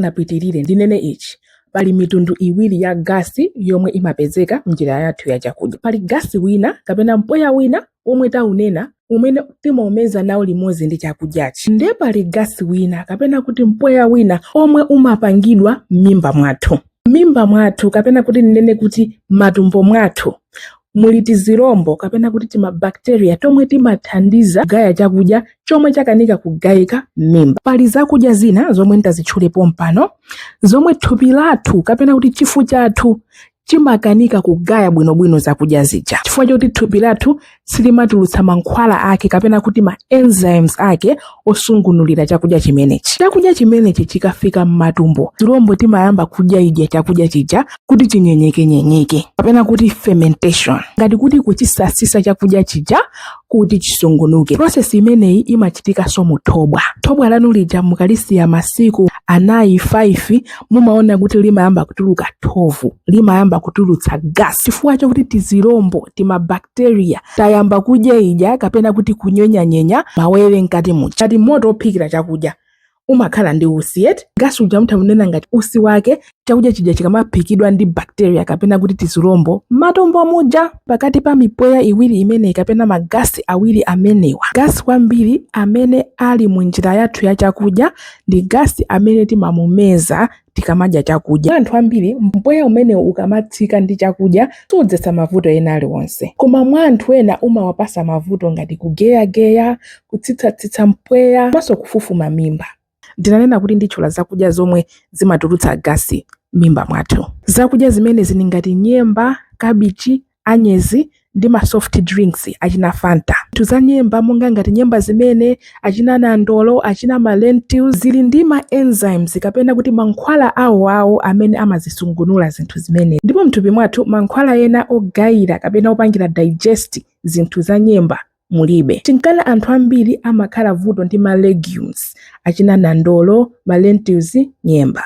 Ndisanapitirire, ndinene ichi, Pali mitundu iwiri ya gasi yomwe imapezeka m'njira yathu ya chakudya. Pali gasi wina kapena mpweya wina omwe taunena umene timaumeza nawo limodzi ndi chakudyachi. Ndiye pali gasi wina kapena kuti mpweya wina omwe umapangidwa m'mimba mwathu. M'mimba mwathu kapena kuti ndinene kuti m'matumbo mwathu muli tizirombo kapena kuti timabakiteriya tomwe timathandiza kugaya chakudya chomwe chakanika kugayika m'mimba. Pali zakudya zina zomwe nditazitchule pompano zomwe thupi lathu kapena kuti chifu chathu chimakanika kugaya bwinobwino zakudya zija chifukwa choti thupi lathu silimatulutsa mankhwala ake kapena kuti ma enzymes ake osungunulira chakudya chimenechi chakudya chimenechi chikafika m'matumbo tizilombo timayamba kudya idya chakudya chija kuti chinyenyekenyenyeke kapena kuti fermentation ngati kuti kuchisasisa chakudya chija kuti chisungunuke prosesi imeneyi imachitikanso mu thobwa thobwa lanu lija mukalisiya masiku anayi 5 mumaona kuti limayamba kutuluka thovu limayamba kutulutsa gasi chifukwa chakuti tizilombo timabakteriya tayamba kudya idya kapena kuti kunyenyanyenya mawere mkati muja ngati moto ophikira chakudya umakhala ndi usi yet gasi uja mutha kumunena ngati usi wake chakudya chija chikamaphikidwa ndi bakteriya kapena kuti tizilombo matumbo muja pakati pa mipweya iwiri imeneyi kapena magasi awiri amenewa gasi kwambiri amene ali mu njira yathu ya chakudya ndi gasi amene timamumeza tikamadya chakudya. Kwa anthu ambiri, mpweya umenewu ukamatsika ndi chakudya sudzetsa mavuto ena aliwonse. Koma mwa anthu ena umawapatsa mavuto ngati kugeyageya, kutsitsatsitsa mpweya komanso kufufuma mimba. Ndinanena kuti nditchula zakudya zomwe zimatulutsa gasi m'mimba mwathu. Zakudya zimenezi ndi ngati nyemba, kabichi, anyezi ndi ma soft drinks achina fanta. Zinthu za nyemba monga ngati nyemba zimene, achina nandolo, achina ma lentils, zili ndi ma enzymes kapena kuti mankhwala awoawo amene amazisungunula zinthu zimene. Ndipo m'thupi mwathu mankhwala ena ogayira kapena opangira digest zinthu za nyemba mulibe. Chinkana anthu ambiri amakhala vuto ndi ma legumes, achina nandolo, ma lentils, nyemba.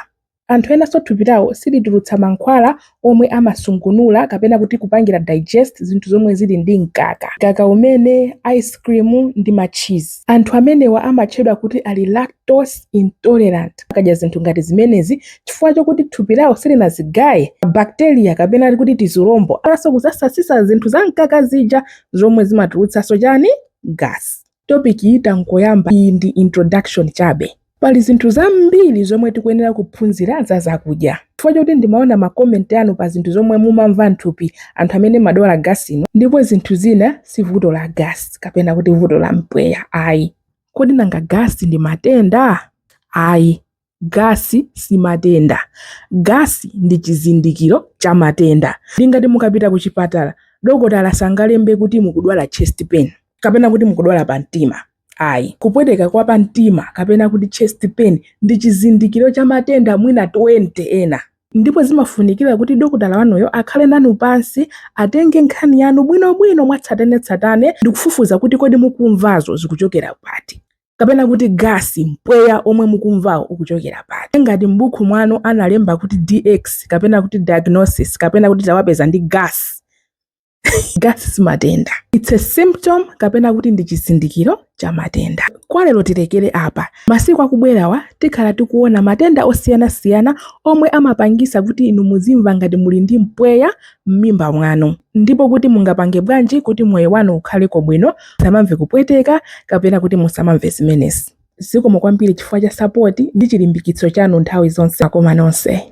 Anthu enanso thupi lawo silitulutsa mankhwala omwe amasungunula kapena kuti kupangira digest zinthu zomwe zili ndi mkaka, mkaka umene, ice cream ndi ma cheese. Anthu amenewa amatchedwa kuti ali lactose intolerant. Akadya zinthu ngati zimenezi, chifukwa chokuti thupi lawo silinazigaye, bacteria kapena kuti tizilombo amathanso kusasasitsa zinthu za mkaka zija zomwe zimatulutsanso chani? Gas. Topic yi tangoyamba, iyi ndi introduction chabe. Pali zinthu zambiri zomwe tikuyenera kuphunzira za zakudya. Chifukwa choti ndimaona ma comment anu pa zinthu zomwe mumamva nthupi anthu amene madwala gas inu, ndipo zinthu zina si vuto la gas kapena kuti vuto la mpweya ayi. Kodi nanga gas ndi matenda? Ayi. Gasi si matenda. Gasi ndi chizindikiro cha matenda. Ndi ngati mukapita kuchipatala, dokotala sangalembe kuti mukudwala chest pain kapena kuti mukudwala pamtima. Ayi. Kupweteka kwa pamtima kapena kuti chest pain ndi chizindikiro cha matenda mwina 20 ena. Ndipo zimafunikira kuti dokotala wanuyo akhale nanu pansi, atenge nkhani yanu bwinobwino mwatsatanetsatane ndi kufufuza kuti kodi mukumvazo zikuchokera pati. kapena kuti gasi mpweya omwe mukumvawo ukuchokera pati ngati m'buku mwanu analemba kuti dx kapena kuti diagnosis kapena kuti tawapeza ndi gasi gasi si matenda its a symptom kapena kuti ndi chizindikiro cha matenda kwa lero tilekere apa masiku akubwerawa tikhala tikuona matenda osiyanasiyana omwe amapangisa kuti inu muzimva ngati muli ndi mpweya mmimba mwanu ndipo kuti mungapange bwanji kuti moyo wanu ukhaleko bwino musamamve kupweteka kapena kuti musamamve zimenezi. Zikomo kwambiri chifukwa cha sapoti ndi chilimbikitso chanu nthawi zonse. Makoma nonse.